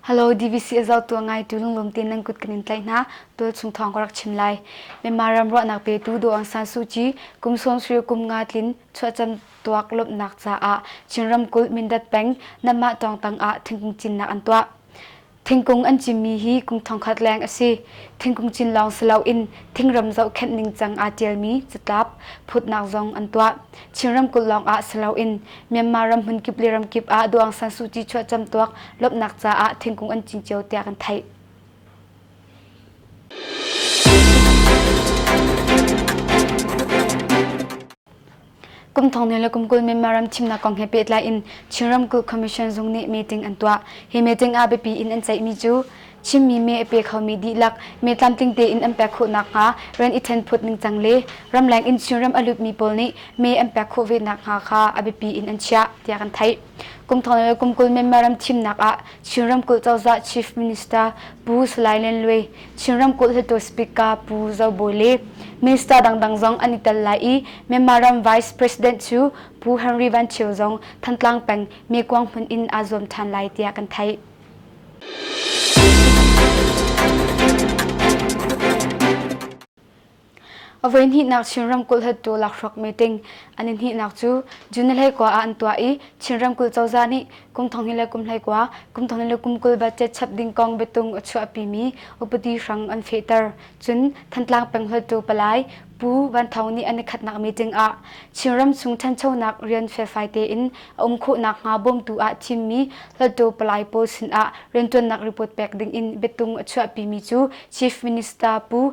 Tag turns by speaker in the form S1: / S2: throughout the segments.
S1: Hello DVC azau tua ngai tu lunglum tin nan kut kanin tlai na tul chung thong ka rak chim lai. Myanmar ram ro nak pe tu do ang san su chi kum som sri kum nga tlin chua cham tuak lop nak cha a Chin ram kul Mindat peng namma tong tang a thingkung chin nak an tua. Thingkung an cimmi hi kum thongkhat leng a si. Thingkung cin lawng si loin thingram zohkhenh ningcang aa ṭialmi catlap, phutnak zong an tuah. Chin ramkulh lawng ah si loin Myanmar ram hmunkip le ramkip ah Duang San Suu Kyi chuahcam tuak lawmhnak caah thingkung an cin cio tiah kan theih. Kum thong ne le kum kul Myanmar ram thimnak kong he pehtlai in Chin Ramkulh Commission zung nih meeting an tuah. Hi meeting ah biapi in an ceihmi cu Chinmi me a pe khomi dihlak me tlamtling tein an pek khawh nakhnga rian i thenphut ningcang le ramleng in Chinram a lutmi pawl nih me an pek khawh ve nakhnga kha a biapi in an chiah tiah kan theih. Kungthong le kumkul member ram thimnak ah Chin ramkulh cozah Chief Minister Pu Salai Len Lwe, Chin ramkulh hluttaw Speaker Pu Zo Bawi le Minister dangdang zong an i tel lai i member ram Vice President cu Pu Henry Van Thio zong Thantlang peng Mekuang hmun in aa zuam ṭhan lai tiah kan theih. A voihnihnak Chin ramkulh hattu lakhruak meeting an in hnihnak cu June hlei kwa ah an tuah i Chin ramkulh cozah nih kum thonghnih le kum hlei kwa kum thonghnih le kum kul budget chap ding kong biatung a chuahpimi upadi hrang an fehter cun Thantlang peng hlutu palai Pu Van Thawng nih an i khatnak meeting ah Chin ram chung ṭhanchonak rian felfai tein a um khawhnak hnga bawmtu ah thimmi hlutu palai pawl sinah rianṭuannak report pek ding in biatung a chuahpimi cu Chief Minister Pu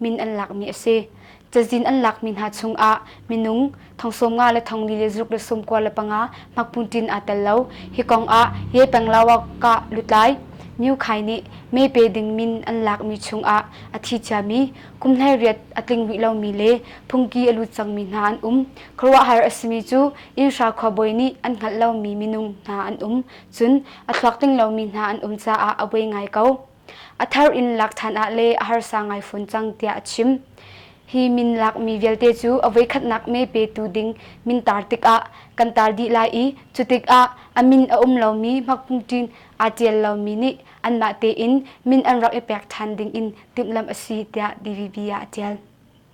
S1: min an lakmi a si. Cazin an lakmi hna chungah minung thongsawm nga le thongli le zuruk le sawmkua le panga hmakpuntin aa tel lo. Hi kongah Yepenglawa-Ka lutlai Myu Khai nih mee pe ding min an lakmi chungah a thi ciami, kumhlai riat a tling rih lomi le phungki a lut cangmi hna an um. Khuaruahhar a simi cu Inhra khuabawi nih an hngalh lomi minung hna an um. Cun a thluak tling lomi hna an um caah a buai ngai ko. a thar in lak ṭhan ah le a harsa ngai fawn cang tiah a chim. Hi min lakmi vialte cu a voikhatnak me petu ding min tar tikah kan tar dih lai i cu tikah a min a um lomi hmakpungṭin aa ṭial lomi nih anmah tein min an rak i pek ṭhan ding in timhlamh a si tiah DVB ah a ṭial.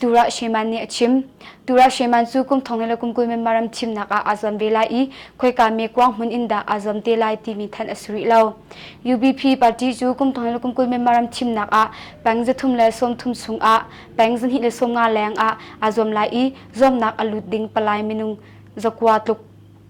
S1: Tura Sheman nih a chim. Tura Sheman cu kum thong in le kum kul member ram thimnak ah aa zuam ve lai i khoika me kuang hmun in dah aa zuam te lai timi thanh a si rih lo. UBP party cu kum thong in le kum kul member ram thimnak ah peng zathum le sawmthum chung ah peng zahnih le sawmnga leng ah aa zuam lai i zuamnak a lut ding palai minung zakua tluk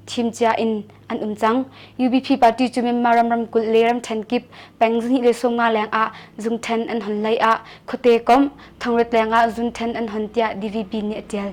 S1: thim cia in an um cang. UBP party cu Myanmar ram ramkulh le ramthen kip peng zihnih le sawmnga leng ah zung then an hon lei ah khuate komh thongret leng ah zun then an hon tiah DVP nih a tial.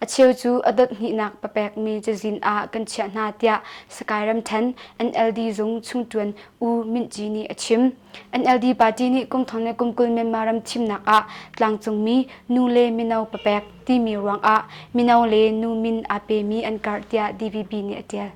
S1: A cheu cu a dothhnihnak papekmi cazin ah kan chiah hna tiah Sakae ramṭhen NLD zung chungṭuan U Myint Gyi nih a chim. NLD party nih kumthong le kumkul Myanmar ram thimnak ah tlangcungmi nu le mino papek timi ruangah mino le nu min aa pemi an karh tiah DVB nih a ṭial.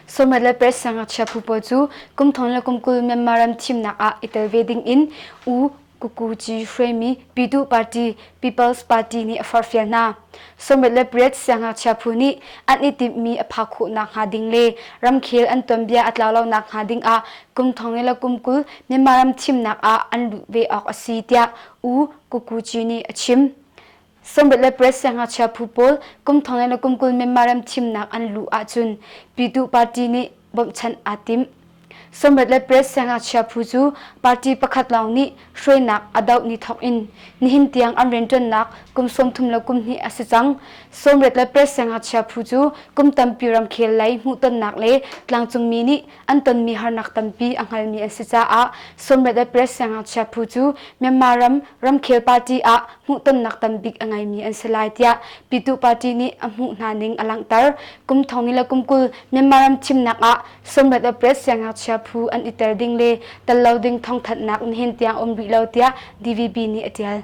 S1: Somat le Perth siangngakchia phu pawl cu kumthong le kumkul Myanmar ram thimnak ah i tel ve ding in U Kukuji Hruaimi Pyituh Party People's Party nih a forhfial hna. Somat le Perth siangngakchia phu nih an i timhmi a phak khawhnak hnga ding le ramkhel an tuanbia a tlau lonak hnga ding ah kumthong le kumkul Myanmar ram thimnak ah an luh ve awk a si tiah U Kukuji nih a chim. Sambet le Press siangngakchia phu pawl kum thong in a kum kul men marem thimnak an luh ahcun Pyituh party nih bawmhchanh aa timh. Sambet le Press siangngakchia phu cu party pakhat lawng nih hruainak a doh ni thawk in nihin tiang an rianṭuannak kum sawmthum le kum hnih a si cang. Sawmret le Press siangngakchia phu cu kum tampi ramkhel lei hmuhtonnak le tlangcungmi nih an tonmi harnak tampi a hngalmi an si caah Sommet ah press siangngakchia phu cu Myanmar ram ramkhel party ah hmuhtonnak tambik a ngeimi an si lai tiah Pitu party nih a hmuh hna ning a langhter. Kum thong ni le kum kul Myanmar ram thimnak ah Sommet of Press siangngakchia phu an iter ding le tel lo ding thongthatnak in hin tiang um rih lo tiah DVB nih a tial.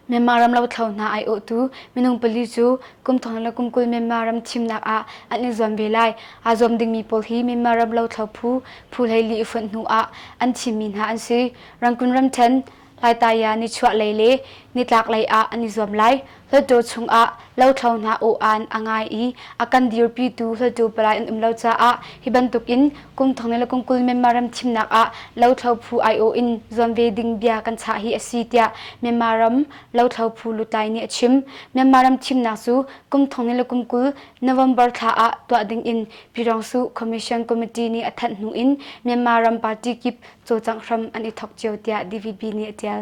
S1: Myanmar ram lothlo hna aiawhtu minung pali cu kum thong le kum kul Myanmar ram thimnak ah an i zuam ve lai. Aa zuam dingmi pawl hi Myanmar ram lothlo phu, phu hleili i fonh hnu ah an thimmi hna an si. Rangoon ramṭhen, Laittaya, nichuahlei le nitlaklei ah an i zuam lai. Hluttaw chung ah Lothlo hna aw-an a ngai i a kan dirpitu hlutu palai an um lo caah hi bantukin kumthong le kumkul Myanmar ram thimnak ah lothlo phu aiawh in zuam ve ding bia kan chah hi a si tiah Myanmar ram lothlo phu lutlai nih a chim. Myanmar ram thimnak cu kumthong le kumkul November thla ah tuah dingin Pirongsu Commission Committee nih a thanh hnu in Myanmar ram party kip cawcangh hram an i thok cio tiah DVB nih a tial.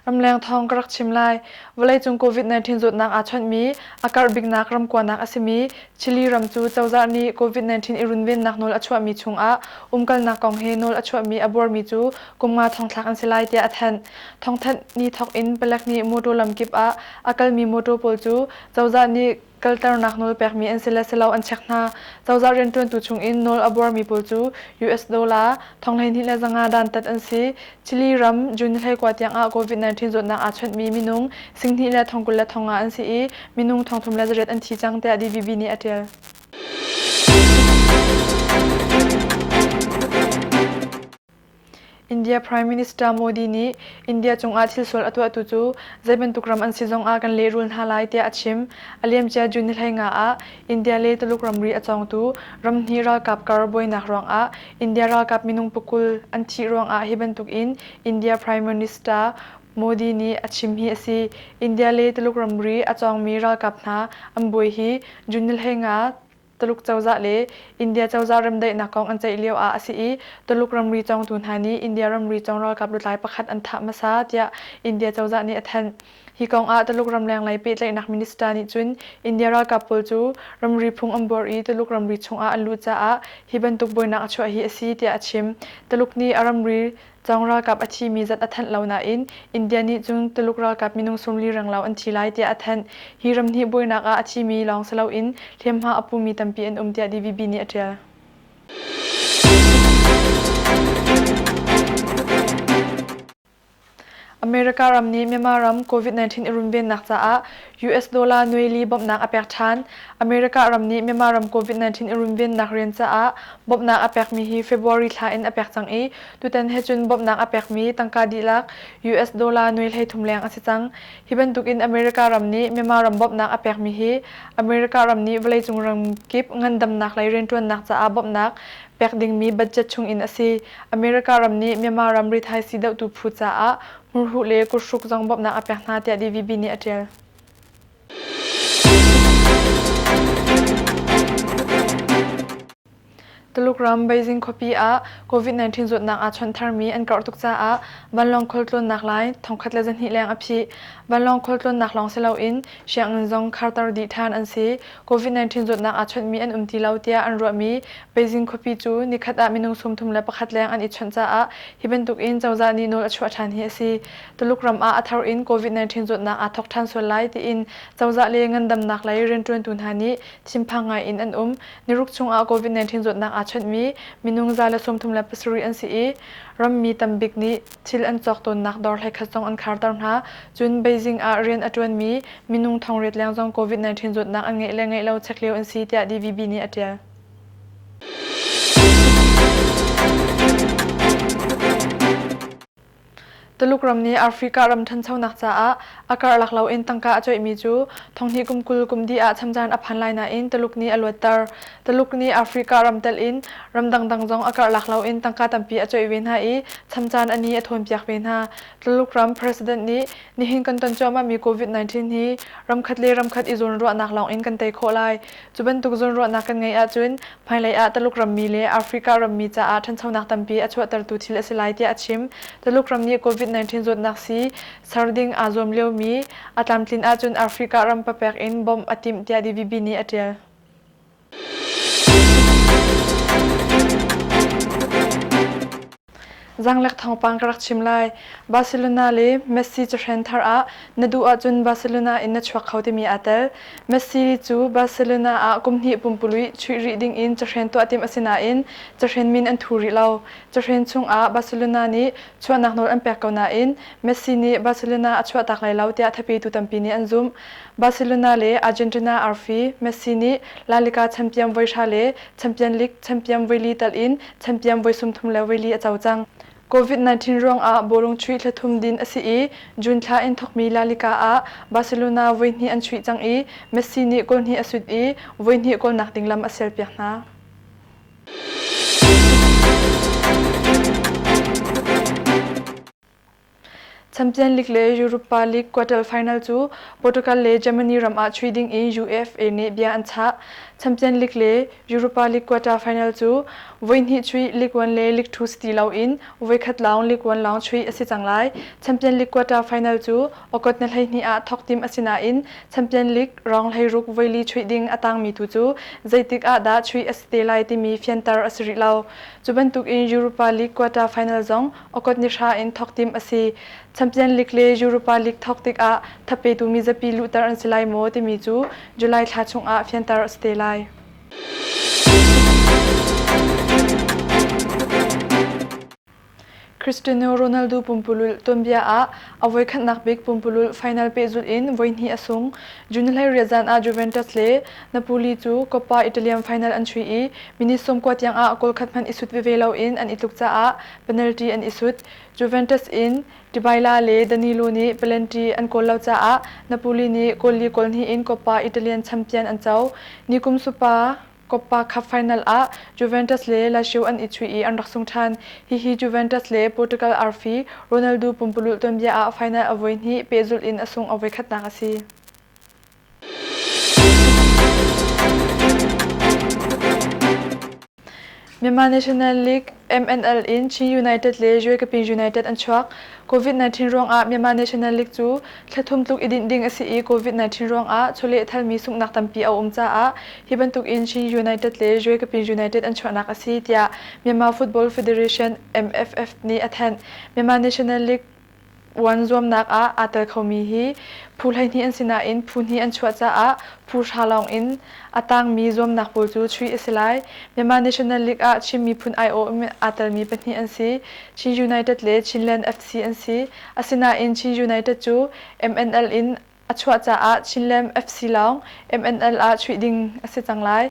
S2: Ramleng thawng ka rak chim lai. Vawleicung COVID-19 zawtnak aa chawnhmi a karh biknak ramkuanak a simi Chile ram cu cozah nih COVID-19 i runvennak nawl a chuahmi chungah umkalnak kong he nawl a chuahmi a buarmi cu kum nga thongthlak an si lai tiah a thanh. Thongthanh ni thawk in palek nih mawtaw lamkip ah a kalmi mawtaw pawl cu cozah nih kalternak nawl pekmi an si le si lo an chek hna. Cozah rianṭuantu chungin nawl a buarmi pawl cu US dollar, thong hleihnih le zanga dantat an si. Chile ram June ni hleikua tiangah COVID-19 zawtnak aa chawnhmi minung singhnih le thong kul le thong nga an si i minung thong thum le zarep an thi cang tiah DVB nih a ṭial. India Prime Minister Modi nih India cungah thilsual a tuahtu cu zeibantuk ram an si zongah kan lehrul hna lai tiah a chim. A liamcia June ni hleinga ah India le Tuluk ramri a cawngtu ramhnih ralkap kar buainak ruangah India ralkap minung pukul an thih ruangah hi bantukin India Prime Minister Modi nih a chim hi a si. India le Tuluk ramri a cawngmi ralkap hna an buai hi June ni hleinga Tuluk cozah le India cozah remdaihnak kong an ceih lio ah a si i Tuluk ramri cawngtu hna nih India ramri cawng ralkap lutlai pakhat an thah hmasa tiah India cozah nih a thanh. Hi kong ah Tuluk ramlenglei pehtlaihnak minister nih cun India ralkap pawl cu ramri phung an buar i Tuluk ramri chung ah an lut caah hi bantuk buainak a chuah hi a si tiah a chim. Tuluk nih a ramri Cong ralkap a thimi zat a thanh lo nain India nih cun Tuluk ralkap minung sumli renglo an thi lai tiah a thanh. Hi ram hi buainak ah a thimi lawng si loin hliamhma a pumi tampi an um tiah DVB nih a ṭial. America ram nih Myanmar ram Covid-19 i runvennak caah US dollar nuaili bawmhnak a pek ṭhan. America ram nih Myanmar ram Covid-19 i runvennak rian caah bawmhnak a pekmi hi February thla in a pek cang i tutan he cun bawmhnak a pekmi tangka dihlak US dollar nuai hleithum leng a si cang. Hi bantukin America ram nih Myanmar ram bawmhnak a pekmi hi America ram nih vawleicung ramkip ngandamnak lei rianṭuannak caah bawmhnak pek dingmi budget chung in a si. America ram nih Myanmar ramri thaisii dohtu phu caah hmurhuh le kuthruk zong bawmhnak a pek hna tiah DVB nih a ṭial. Tuluk ram Beijing khuapi ah COVID-19 zawtnak aa chawnh tharmi an karh tuk caah vanlawng khual tlawnnak lai thongkhat le zahnih leng a phih. Vanlawng khual tlawnnak lawng si loin sianginn zong kharter dih ṭhan an si. COVID-19 zawtnak aa chawnhmi an um ti lo tiah an ruahmi Beijing khuapi cu nikhat ah minung sumthum le pakhat leng an i chawnh caah hi bantukin cozah nih nawl a chuah ṭhan hi a si. Tuluk ram ah a thar in COVID-19 zawtnak aa thawk ṭhan sual lai tiin cozah le ngandamnak lei rianṭuantu hna nih thinphang ngaiin an um. Niruk chungah COVID-19 zawtnak aa chawnhmi minung za le sumthum le pasarih an si i, rammi tam bik nih, Thil an cawk tawnnak dawr hleikhat zong an kharter hna. Cun Beijing ah rian a ṭuanmi minung thongriat leng zong COVID-19 zawtnak an ngeih le ngeih lo chek lio an si tiah DVB nih a ṭial. Tuluk ram nih Africa ram ṭhanchonak caah a karlak loin tangka a cuaihmi cu thonghnih kum kul kumdi ah chamcaan a phan lai nain Tuluk nih a luatter. Taluk nih Africa ram telh in ram dangdang zong a karhlak loin tangka tampi a cuaih ve hna i chamcaan a ni a thawnpiak ve hna. Taluk ram President nih nihin kan ton cuahmahmi Covid-19 hi ramkhat le ramkhat i zawnruahnak lawngin kan tei khawh lai. Cu bantuk zawnruahnak kan ngeih ahcun hmailei ah Taluk rammi le Africa rammi caah ṭhanchonak tampi a chuahtertu thil a si lai tiah a chim. Taluk ram nih Covid-19 zawtnak sii ser ding aa zuam liomi a tlamtlin ahcun Africa ram papek in bawmh a timh tiah DVB nih a ṭial. Zaanglek thawngpang ka rak chim lai. Barcelona le Messi cahren thar ah na duh ahcun Barcelona in na chuak kho timi aa tel. Messi cu Barcelona ah kum hnih pumpului chuih rih ding in cahren tuah timh a si nain cahren min an thu rih lo. Cahren chungah Barcelona nih chuahnak nawl an pek ko nain Messi nih Barcelona a chuahtak lai lo tiah thapetu tampi nih an zumh. Barcelona le Argentina arfi Messi nih La Liga champion voihra le champion league champion voili tal in champion voisumthum le voili a co cang. Covid-19 ruangah bawlung chuih thlathum din a si i June thla in thawkmi La Liga ah Barcelona voihnih an chuih cang i Messi nih goal hnih a sut i voihnih goal nak ding lam a serpiak hna. champion league le europa league quarter final cu portugal le germany ram ah chui ding in ufa nih bia an chah champion league le europa league quarter final cu voihnih chui league one le league two city lo in voikhat lawng league one lawng chui a si cang lai champion league quarter final cu okot na hlei hni ah thok tim a si nain champion league rong hlei ruk voili chui ding a tangmi tu cu zeitik ah dah chui a si te lai timi fianter a si rih lo cu bantuk in europa league quarter final zong Okot ni hra in thawk tim a si. Champion League le Europa League thawk tikah thapetu mizapi luhter an si lai maw timi cu July thla chungah fianter a si te lai. Cristiano Ronaldo pumpululh tuanbia ah a voi khatnak bik pumpululh final pehzulh in voi hnih a sung. June hlei riat zan ah Juventus le Napoli cu Coppa Italian final an chuih i minit sawmkua tiangah goal khat hmanh i sut veve loin an i tluk caah penalty an i sut. Juventus in Dybala le Danilo nih penalty an kawl lo caah Napoli nih goal li kawl hnih in Coppa Italian champion an co. Ni kum supa Coppa Cup final ah Juventus le Lazio an i chuih i an rak sung ṭhan. Hihi Juventus le Portugal arfi Ronaldo pumpululh tuanbia ah final a voi hnih pehzulh in a sung a voi khatnak a si. Myanmar National League MNL in Chin United le Jwe Kapi United an chuak. COVID-19 ruangah Myanmar National League cu thlathum tluk i dinh ding a si i COVID-19 ruangah chawleh thalmi sunghnak tampi a um caah hi bantuk in Chin United le Jwe Kapi United an chuahnak a si tiah Myanmar Football Federation MFF nih a thanh. Myanmar National League Uan zuamnak ah aa tel khomi hi phu hleihnih an si nain phu hnih an chuah caah phu hra lawng in a tangmi zuamnak pawl cu chuih a si lai. Myanmar National League ah Chin miphun aiawh in aa telmi pahnih an si. Chin United le Chinland FC an si. Asinain Chin United cu MNL in A chuah caah Chinland FC lawng MNL ah chuih ding a si cang lai.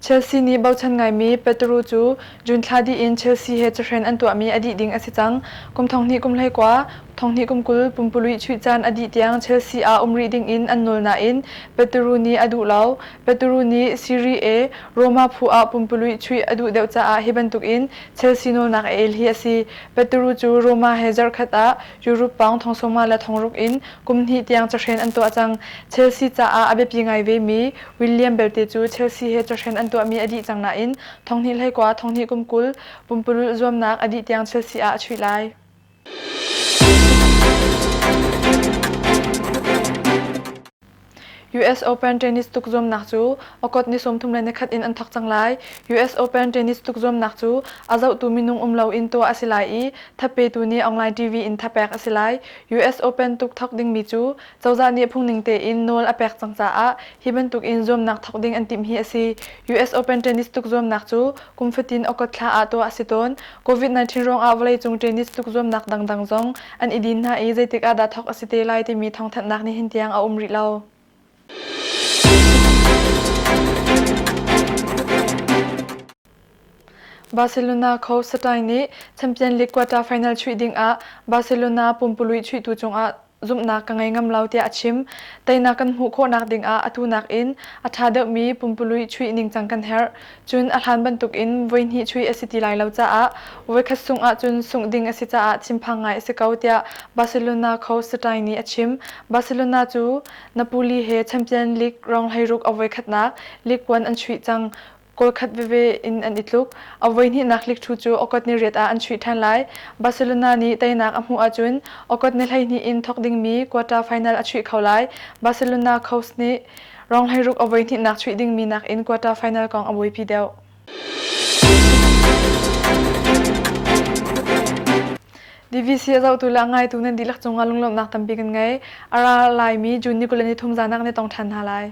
S2: Chelsea nih bochan ngaimi Petru cu June thla dih in Chelsea he cahren an tuahmi a dih ding a si cang. Kum thonghnih kum hleikua, thonghnih kum kul pumpului chuih caan a dih tiang Chelsea ah um rih ding in an nawl nain Petru nih a duh lo. Petru nih Serie A, Roma phu ah pumpului chuih a duh deuh caah hi bantuk in Chelsea nawlnak a el hi a si. Peturu cu Roma he zarhkhat ah Europe pawng thongsawma le thongruk in kum hnih tiang cahren an tuah cang. Chelsea caah a biapi ngai vemi William belte cu Chelsea he cahren an tuahmi a dih cang nain thonghnih hleikua thonghnih kum kul pumpululh zuamnak a dih tiang Chelsea ah a chuih lai. US Open tennis tukzuamnak cu Okot ni sawmthum le nikhat in an thawk cang lai. US Open tennis tukzuamnak cu a zohtu minung um lo in tuah a si lai i thapetu nih online TV in thapek a si lai. US Open tuk thawk dingmi cu cozah nih phungning tein nawl a pek cang caah hi bantuk in zuamnak thawk ding an timh hi a si. US Open tennis tukzuamnak cu Kum fatin Okotthla ah tuah a si tawn. Covid-19 ruangah vawleicung tennis tlukzuamnak dangdang zong an i din hna i zeitik ah dah thawk a si te lai timi thawngthanhnak nih hin tiang a um rih lo. Barcelona co Satai nih Champion League quarter final chuih ding ah Barcelona pumpului chuihtu cungah zumhnak ka ngei ngam lo tiah a chim. Teinak kan hmuh khawhnak ding ah atu nakin a ṭha deuhmi pumpului chuih ningcang kan herh. Cun a hlan bantuk in voihnih chuih a si ti lai lo caah voikhat sungh ahcun sungh ding a si caah thinphang ngai a si ko tiah Barcelona coach Satai nih a chim. Barcelona cu Napoli he Champion League rong hleiruk a voikhatnak league puan an chuih cang. Kawlkhat veve in an i tluk. A voihnihnak hlikṭhu cu Okot-ni-riat ah an chuih ṭhan lai. Barcelona nih teinak a hmuh ahcun Okot-ni hleihnih in thawk dingmi quarter final a chuih kho lai. Barcelona Coast nih rong hleiruk a voihnihnak chuih dingmi nakin quarter final kong a buaipi deuh. DVC a zohtu le a ngaitu nan dihlak cungah lunglawmhnak tampi kan ngei. A ra laimi June ni kul le ni thum zaanak nan tong ṭhan hna lai.